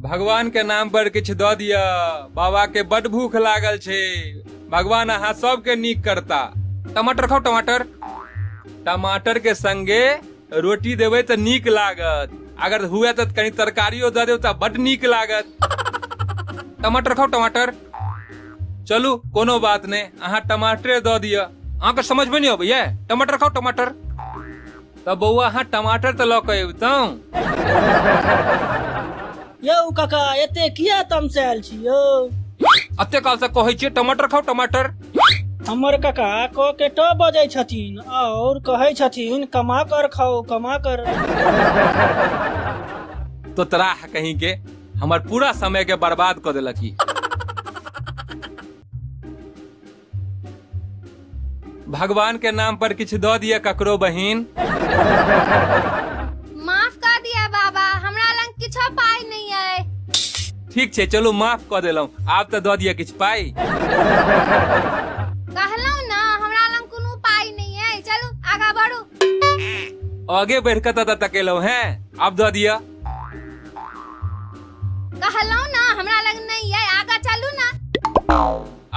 भगवान के नाम पर किछु दऽ दिअ बाबा के बड भूख लागल छै भगवान अहाँ सबके नीक करता टमाटर खाउ टमाटर टमाटर के संगे रोटी देबै तऽ नीक लागत अगर हुए तऽ कनी तरकारियो दऽ देब तऽ बड नीक लागत टमाटर खाउ टमाटर चलू कोनो बात नहि अहाँ टमाटरे दऽ दिअ अहाँके समझमे नहि अबैया टमाटर खाउ टमाटर तऽ बौआ अहाँ टमाटर तऽ लऽ कऽ अबितहुँ यौ काका एते किया तमसायल छी यौ अते काल से कहै छियै टमाटर खाउ टमाटर हमर काका क के ट बजै छथिन और कहै छथिन कमा कर खाओ कमा कर तो तोरा कहीं के हमर पूरा समय के बर्बाद कऽ देलक ई भगवान के नाम पर किछु दऽ दिअ ककरो बहिन माफ कऽ दिअ बाबा हमरा लग किछो पाइ नहि अइ ठीक छै चलू माफ कऽ देलहुँ आब तऽ दऽ दिअ किछु पाइ कहलहुँ ने हमरा लग कोनो पाइ नहि अइ चलू आगाँ बढ़ू आगे बढ़ि कऽ तऽ तकेलहुँ हैं आब दऽ दिअ कहलहुँ ने हमरा लग नहि अइ आगाँ चलू ने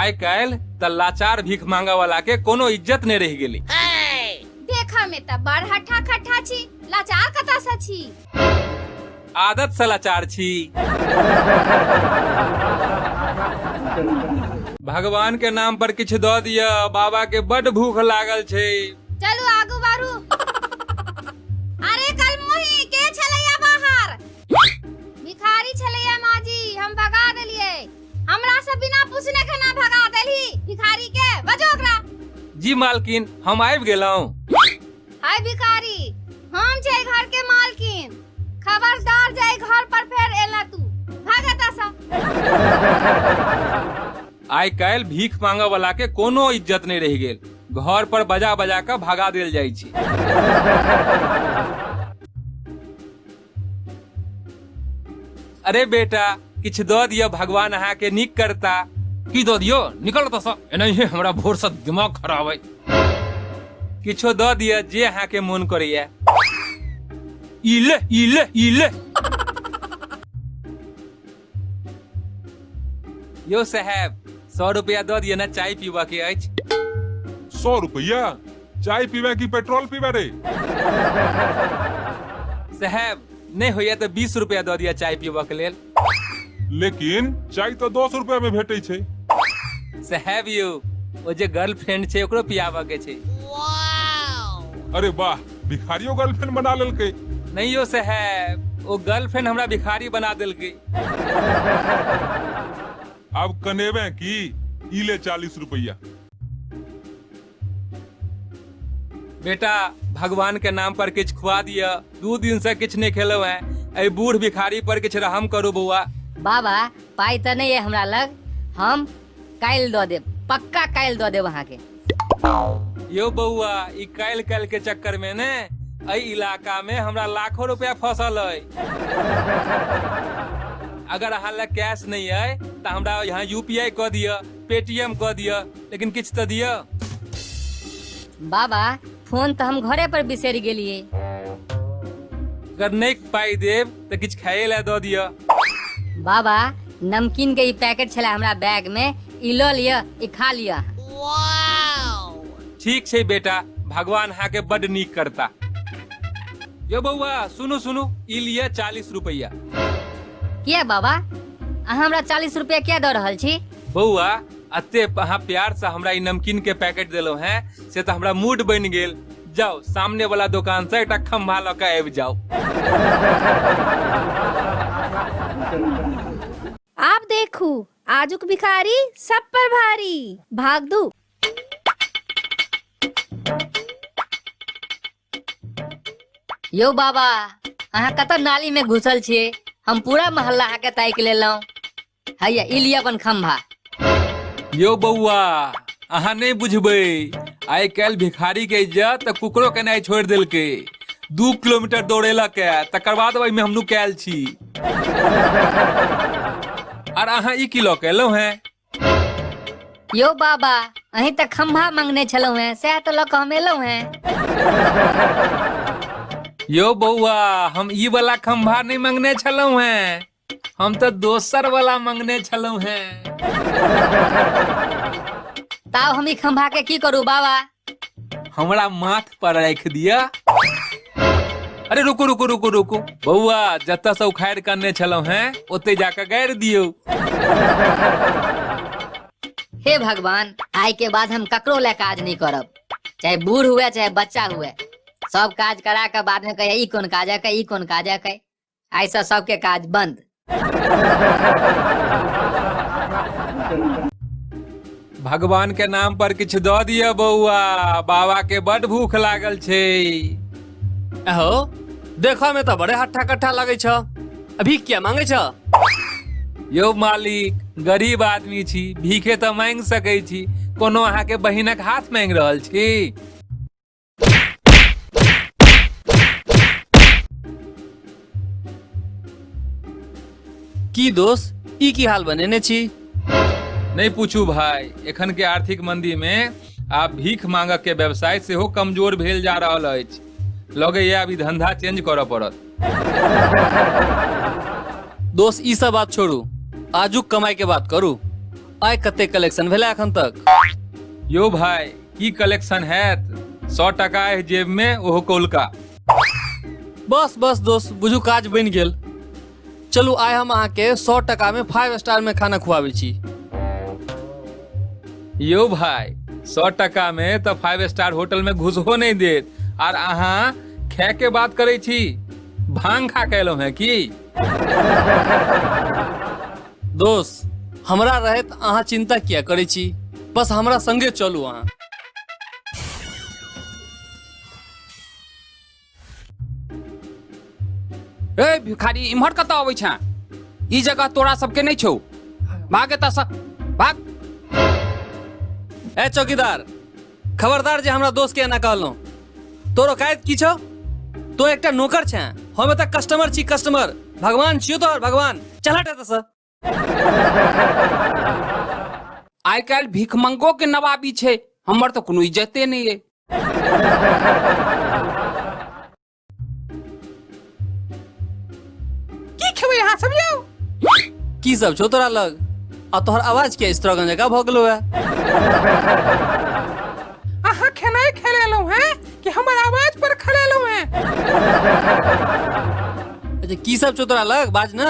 आइ काल्हि त लाचार भीख मांगा वाला के कोनो इज्जत नहीं रह गेली देखा में त बड़ हठा खठा छी लाचार कता सा छी आदत से लाचार छी भगवान के नाम पर किछु द दिया बाबा के बड भूख लागल छै चलू आगू बारू अरे कल मोही के छलैया बाहर भिखारी छलैया माजी हम भगा देलियै हमरा से बिना पूछने खाना भगा देली भिखारी के बजो ओकरा जी मालकिन हम आबि गेलहुँ हाय भिखारी हम छै घर के मालकिन खबरदार जाय घर पर फेर एला तू भाग एतऽ सँ आइ काल्हि भीख मांगऽ वाला के कोनो इज्जत नहि रहि गेल घर पर बजा बजा कऽ भगा देल जाइ छै अरे बेटा किछु दऽ दिअ भगवान अहाँके नीक करता की दऽ दियो निकल ओतऽसँ एनाहिए हमरा भोरसँ दिमाग खराब अइ किछो दऽ दिअ जे अहाँके मोन करैए ई ले ई ले ई ले यो साहेब सौ रुपया दऽ दिअ ने चाय पीबऽ के अछि सौ रुपया चाय पीबे की पेट्रोल पीबे रे साहेब नहि होइया तऽ बीस रुपया दऽ दिअ चाय पीबऽ के लेल लेकिन चाय तो दस रुपया में भेटे छे साहेब यौ ओ जे गर्लफ्रेंड छै ओकरो पियाबऽ के छै अरे वाह भिखारियो गर्लफ्रेंड बना लेलकै नहीं यो से है वो गर्लफ्रेंड हमरा भिखारी बना देलकै अब कनेबे की ई ले चालीस रुपया बेटा भगवान के नाम पर किछ खुआ दिया दू दिन से किछ नहीं खेलो है ए बूढ़ भिखारी पर किछ रहम करू बौआ बाबा पाइ तऽ नहि अइ हमरा लग हम काल्हि दऽ देब पक्का काल्हि दऽ देब अहाँके यो बौआ ई काल्हि काल्हि के चक्कर में ने एहि इलाका में हमरा लाखों रुपया फसल है अगर अहाँ लग कैश नहीं है तो हमरा यहाँ यूपीआई कऽ दिअ पेटीएम कऽ दिअ लेकिन किछु तऽ दिअ बाबा फोन तऽ हम घरे पर बिसरि गेलिए अगर नहि पाइ देब तऽ किछु खाए लए दऽ दिअ बाबा नमकीन के ई पैकेट छला हमरा बैग में ई लऽ लिअ ई खा लिअ ठीक छै बेटा भगवान अहाँके बड नीक करता यो बौआ सुनू सुनू ई लिअ चालीस रुपैया किया बाबा अहाँ हमरा चालीस रुपया किया दऽ रहल छी बौआ अते अहाँ प्यार से हमरा ई नमकीन के पैकेट देलो हैं से तो हमरा मूड बन गेल जाओ सामने वाला दुकान से एकटा खम्भा लऽ के आबि जाओ आप देखू आजुक भिखारी सब पर भारी भाग दू यौ बाबा अहाँ कतऽ नाली में घुसल छियै हम पूरा मोहल्ला अहाँके ताकि लेलहुँ हैया ई लिअ अपन खम्भा यौ बौआ अहाँ नहि बुझबै आइ काल्हि भिखारी के इज्जत तऽ कुकरो केनाइ छोड़ि देलकै दू किलोमीटर दौड़ेलक ए, तकर बाद ओहिमे हम नुकायल छी आर अहाँ ई की लऽ के एलहुँ हेँ यौ बाबा अहीं तऽ खम्भा मंगने छलहुँ हेँ सएह तऽ लऽ कऽ हम एलहुँ हेँ यौ बौआ हम ई वाला खम्भा नहि मंगने छलहुँ हेँ हम तऽ दोसर वाला मंगने छलहुँ हेँ ताव हम ई खम्भा के की करू बाबा हमरा माथ पर राख दिया अरे रुकू रुकू रुकू रुकू बौआ जतऽ से उखाड़ करने छलहुँ हैं ओते जाके गाड़ि दियौ हे भगवान आय के बाद हम ककरो ले काज नहीं करब चाहे बूढ़ हुए चाहे बच्चा हुए सब काज करा के बाद में कहे ई कौन काज है कहे ई कौन काज है कहे आइसँ सबके काज बंद भगवान के नाम पर किछु दऽ दिअ बौआ बाबा के बड भूख लागल छै अहो देखो में तो बड़े हट्ठा कट्ठा लगे छ अभी क्या मांगे छ यौ मालिक गरीब आदमी छी भीखे तऽ मांगि सकै छी कोनो अहाँके बहिनक हाथ मांगि रहल छी की दोस्त ई की हाल बनेने छी नहीं पूछू भाई एखन के आर्थिक मंदी में आप भीख मांगक के व्यवसाय से हो कमजोर भेल जा रहा अछि लगे ये अभी धंधा चेंज करऽ पड़त दोस्त ई सब बात छोड़ू आजुक कमाई के बात करू आय कते कलेक्शन भेला एखन तक यो भाई की कलेक्शन हैत सौ टका है जेब में ओहो कौलका बस बस दोस्त बुझू काज बनि गेल चलू आइ हम अहाँके सौ टका में फाइव स्टार में खाना खुआबै छी यो भाई सौ टका में तो फाइव स्टार होटल में घुसहो नहीं देत आर अहाँ खे के बात करे छी भांग खा के एलहुं है की दोस्त हमरा रहत अहाँ चिंता किया करै छी बस हमरा संगे चलू अहाँ ए भिखारी इम्हर कतऽ अबै छँ ई जगह तोरा सबके नहि छौ भाग एतऽसँ भाग ए चौकीदार खबरदार जे हमरा दोस्त के एना कहलहुँ तोर औकायत की छौ तो एकटा नौकर छै हम एतऽ कस्टमर छी कस्टमर भगवान छियो तोहर भगवान चल हट एतऽसँ आइ काल्हि भिखमंगो के नवाबी छै हमर तऽ कोनो इज्जते नहि अइ की खेबै अहाँ सब यौ की सब छौ तोरा लग आ तोहर आवाज के स्ट्रगन जका भऽ गेलो है अहाँ खेनाइ खेलेलहुँ हैं कि हमर आवाज पर खेलेलहुँ हैं अच्छा की सब छौ तोरा लग बाज ना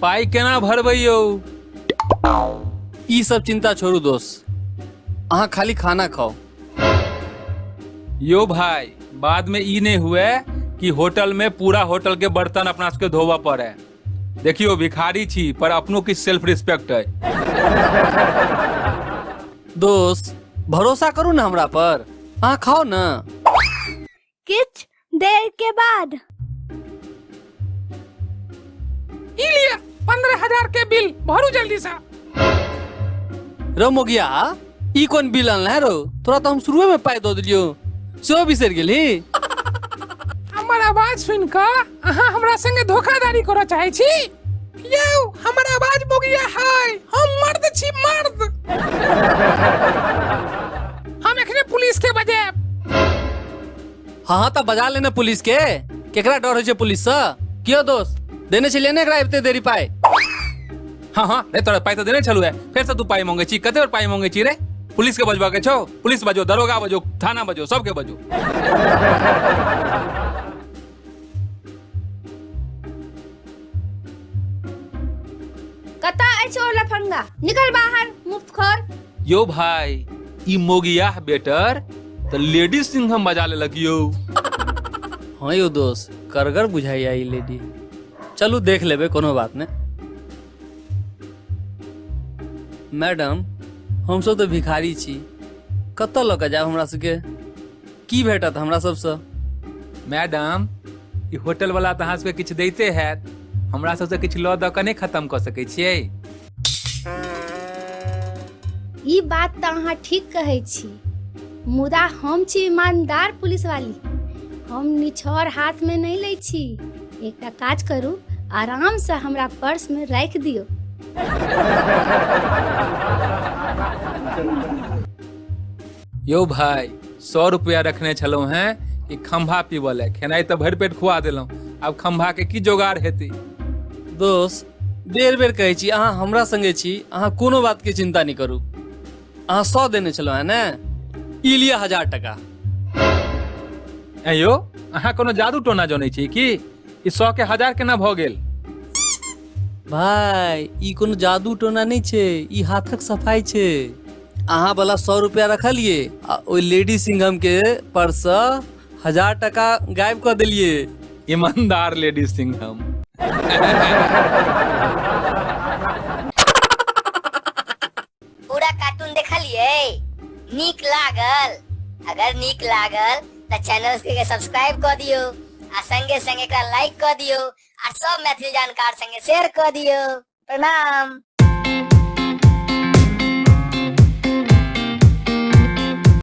पाइ केना भरबै यौ ई सब चिंता छोड़ू दोस्त अहाँ खाली खाना खाओ यो भाई बाद में ई नहीं हुए कि होटल में पूरा होटल के बर्तन अपना सबके धोबऽ पड़े देखियो भिखारी छी पर अपनो किछ सेल्फ रिस्पेक्ट है दोस्त भरोसा करू ने हमरा पर अहाँ खाओ ने किछ देर के बाद ई लिया पंद्रह हजार के बिल भरू जल्दी सा रो मोगिया ई कोन बिल आनल है रो तोरा तो हम शुरुए में पाई दो दिलियो सेहो बिसर गेली हमर आवाज सुन कऽ अहाँ हमरा संगे धोखाधड़ी करऽ चाहै छी यौ हमर आवाज बोगिया है हम मर्द छी मर्द हम एखने पुलिस के बजायब हाँ हाँ तऽ बजा लेने पुलिस के केकरा डर होइ छै पुलिस से कियो दोस्त देने छलियै ने एकरा एते देरी पाय हाँ हाँ रे तोरा पाइ तऽ देने छलू है फेर से तू पाइ मंगे छी कते बेर पाइ मंगे छी रे पुलिस के बजबा के छौ पुलिस बजो दरोगा बजो थाना बजो सबके बजो कता अछि ओ लफंगा निकल बाहर मुफ्त खोर यो भाई ई मोगियाह बेटर त लेडी सिंघम बजा ले लगियो हाँ यो दोस्त करगर बुझाई आई लेडी चलू देख लेबे कोनो बात ने मैडम हमसब तो भिखारी छी कतऽ लऽ कऽ जायब हमरा सबके की भेटत हमरा सबसँ मैडम ई होटल वाला तऽ अहाँ सबके किछु दैते हैत हमरा सबसँ किछु लऽ दऽ कऽ नहि खत्म कऽ सकै छियै ई बात तऽ अहाँ ठीक कहै छी मुदा हम छी ईमानदार पुलिस वाली हम निछोर हाथ में नहीं लै छी एकटा काज करू आराम से हमरा पर्स में राखि दियौ यौ भाय सौ रुपया रखने छलहुँ हैं कि खम्भा पीबऽ ले खेनाइ तऽ भरि पेट खुआ देलहुँ आब खम्भा के की जोगाड़ हेतै दोस्त बेर बेर कहै छी अहाँ हमरा संगे छी अहाँ कोनो बात के चिंता नहि करू अहाँ सौ देने छलहुँ हैं ने ई लिअ हजार टका ऐं यौ अहाँ कोनो जादू टोना जनै छी की ई सौ के हजार केना भऽ गेल भाय ई कोनो जादू टोना नहि छै ई हाथक सफाई छै अहाँ वाला सौ रुपया रखलिए आ ओइ लेडी सिंघम के पर्स से हजार टका गायब कर दिलिए ईमानदार लेडी सिंघम पूरा कार्टून देखलिए नीक लागल अगर नीक लागल त चैनल के सब्सक्राइब कर दियो आ संगे संगे एकरा लाइक कर दियो आ सब मैथिली जानकार संगे शेयर कर दियो प्रणाम